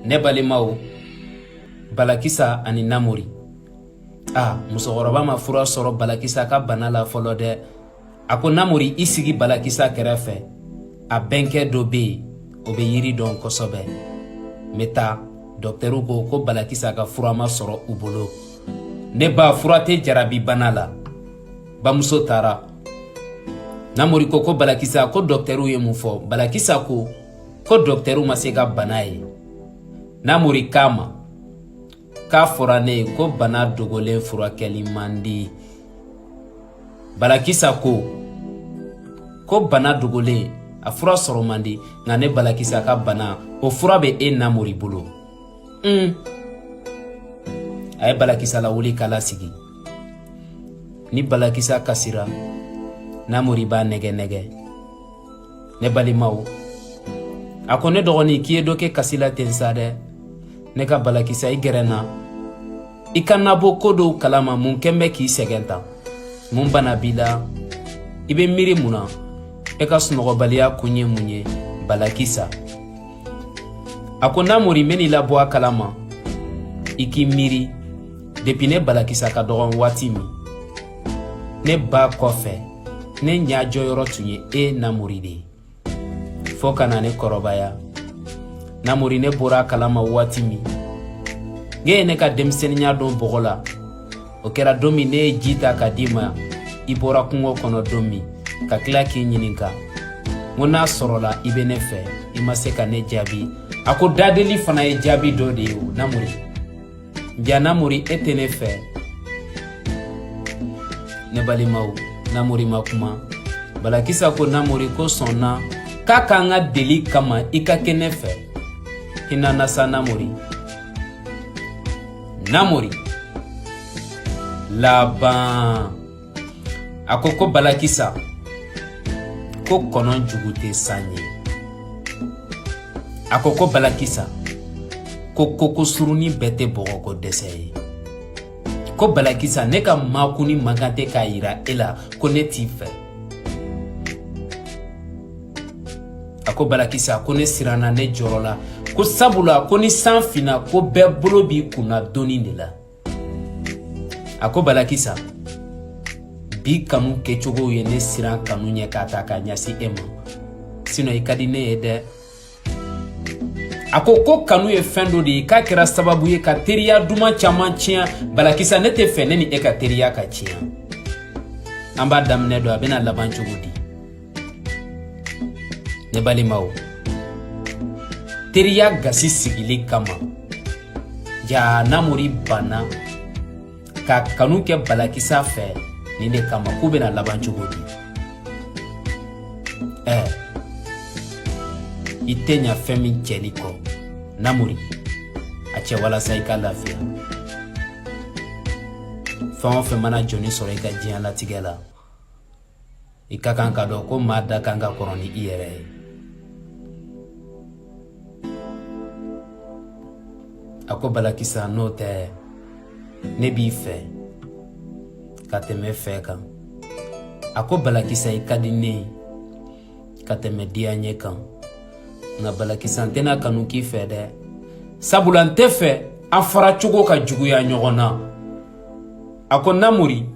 ne balimaw balakisa ani namori a musokɔrɔba ma fura sɔrɔ balakisa ka bana la fɔlɔ dɛ a ko namori i sigi balakisa kɛrɛfɛ a bɛnkɛ dɔ bɛ yen o bɛ yiri dɔn kosɛbɛ n bɛ taa dɔkitɛriw ko ko balakisa ka fura ma sɔrɔ u bolo ne ba fura tɛ jarabi bana la bamuso taara namori ko ko balakisa ko dɔkitɛriw ye mun fɔ balakisa ko ko dɔkitɛriw ma se ka bana ye namori k'a ma k'a fɔra ne ye ko bana dogolen furakɛli man di balakisa ko ko bana dogolen a fura sɔrɔ man di nka ne balakisa ka bana o fura bɛ e namori bolo un a ye balakisa lawuli k'a lasigi ni balakisa kasira namori b'a nɛgɛnɛgɛ ne balimaw a ko ne dɔgɔnin k'i ye dɔ kɛ kasi la ten sa dɛ ne ka balakisa i gɛrɛ n na i ka n labɔ ko dɔw kalama mun kɛn bɛ k'i sɛgɛn tan mun bana b'i la i bɛ miiri mun na e ka sunɔgɔbaliya kun ye mun ye balakisa a ko namori n bɛn'i labɔ a kalama i k'i miiri depi ne balakisa ka dɔgɔn waati min ne ba kɔfɛ ne ɲa jɔyɔrɔ tun ye e namori de ye fɔɔ ka na ne kɔrɔbaya namori ne bɔra a kalama waati min k'e ye ne ka denmisɛnninya don bɔgɔ la o kɛra don min ne ye ji ta k'a d'i ma i bɔra kungo kɔnɔ don min ka tila k'i ɲininka n ko n'a sɔrɔla i bɛ ne fɛ i ma se ka ne jaabi a ko dadeli fana ye jaabi dɔ de ye o namori jaa namori e tɛ ne fɛ ne balimaw namori ma kuma balakisa ko namori ko sɔnna k'a k'an ka deli kama i ka kɛ ne fɛ hina n na sa namori namori laban a ko ko balakisa ko kɔnɔ jugu tɛ san ye a ko ko balakisa ko koko surunin bɛɛ tɛ bɔgɔko dɛsɛ ye ko balakisa ne ka makunni man kan tɛ k'a yira e la ko ne t'i fɛ a ko balakisa ko ne siranna ne jɔrɔla ko sabula ko ni san finna ko bɛɛ bolo b'i kunna doni de la a ko balakisa bi kanu kɛcogow ye ne siran kanu ɲɛ k'a ta k'a ɲasin e ma sinɔ i ka di ne ye dɛ a ko ko kanu ye fɛn dɔ de ye k'a kɛra sababu ye ka teriya duman caman tiɲɛ balakisa ne tɛ fɛ ne ni e ka teriya ka tiɲɛ an b'a daminɛ dɔn a bɛna laban cogo di ne balimaw teriya gasi sigili kama jaa namori banna ka kanu kɛ balakisa fɛ nin de kama k'u bɛna laban cogo di ɛ i tɛ ɲa fɛn min cɛli kɔ namori a cɛ walasa i ka lafiya fɛn o fɛn mana jɔnnin sɔrɔ i ka diɲɛlatigɛ la i ka kan k'a dɔn ko maa dakan ka kɔrɔ ni i yɛrɛ ye a ko balakisa n'o tɛ ne b'i fɛ ka tɛmɛ fɛ kan a ko balakisa i ka di ne ye ka tɛmɛ diyanye kan nka balakisa n tɛna kanu k'i fɛ dɛ sabula n tɛ fɛ an fara cogo ka juguya ɲɔgɔn na a ko namori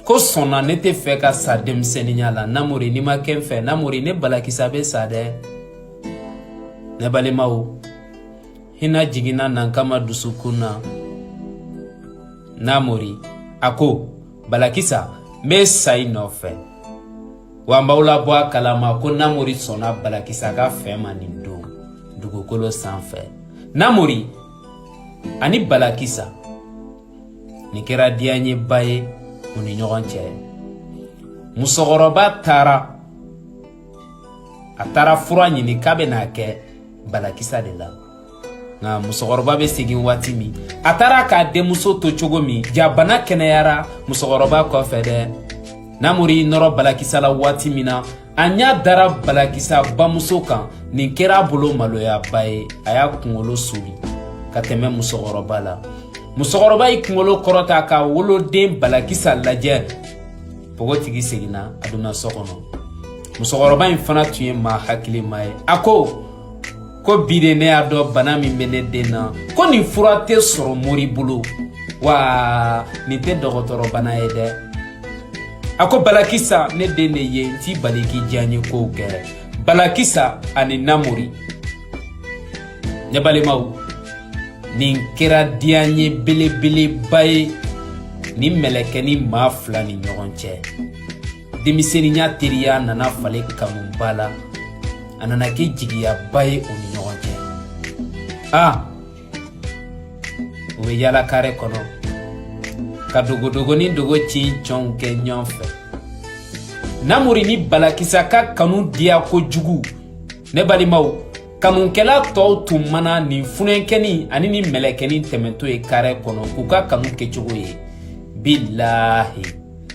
ko sɔnna ne tɛ fɛ ka sa denmisɛnninya la namori n'i ma kɛ n fɛ namori ne balakisa bɛ sa dɛ ne balimaw hinɛ jiginna nankama dusukun na namori a ko balakisa n bɛ sa i nɔfɛ wa n b'aw labɔ a kalama ko namori sɔnna balakisa ka fɛn ma nin don dugukolo sanfɛ namori ani balakisa nin kɛra diyanyeba ye u ni ɲɔgɔn cɛ musokɔrɔba taara a taara fura ɲini k'a bɛ n'a kɛ balakisa de la nka musokɔrɔba bɛ segin waati min a taara k'a denmuso to cogo min jaa bana kɛnɛyara musokɔrɔba kɔfɛ dɛ namori nɔrɔ balakisa la waati min na a ɲa dara balakisa bamuso kan nin kɛra a bolo maloyaba ye a y'a kungolo suli ka tɛmɛ musokɔrɔba la musokɔrɔba y'i kungolo kɔrɔta k'a woloden balakisa lajɛ pogotigi seginna a donna so kɔnɔ musokɔrɔba in fana tun ye maa hakilima ye a ko ko bi de ne y'a dɔn bana min bɛ ne den na ko nin fura tɛ sɔrɔ mori bolo wa nin tɛ dɔgɔtɔrɔbana ye dɛ a ko balakisa ne den de ye n t'i bali k'i diyanyekow kɛ balakisa ani namori ne balimaw nin kɛra diyanye belebeleba ye nin mɛlɛkɛnin maa fila ni ɲɔgɔn cɛ denmisɛnninya teriya nana falen kanuba la a nana kɛ jigiyaba ye u ni ɲɔgɔn cɛ a u bɛ yaala kare kɔnɔ ka dogodogonin dogo ci cɔnw kɛ ɲɔgɔn fɛ namori ni balakisa ka kanu diya kojugu ne balimaw kanukɛla tɔw tun mana nin funankɛnin ani nin mɛlɛkɛnin tɛmɛntɔ ye kare kɔnɔ k'u ka kanu kɛcogo ye bilahi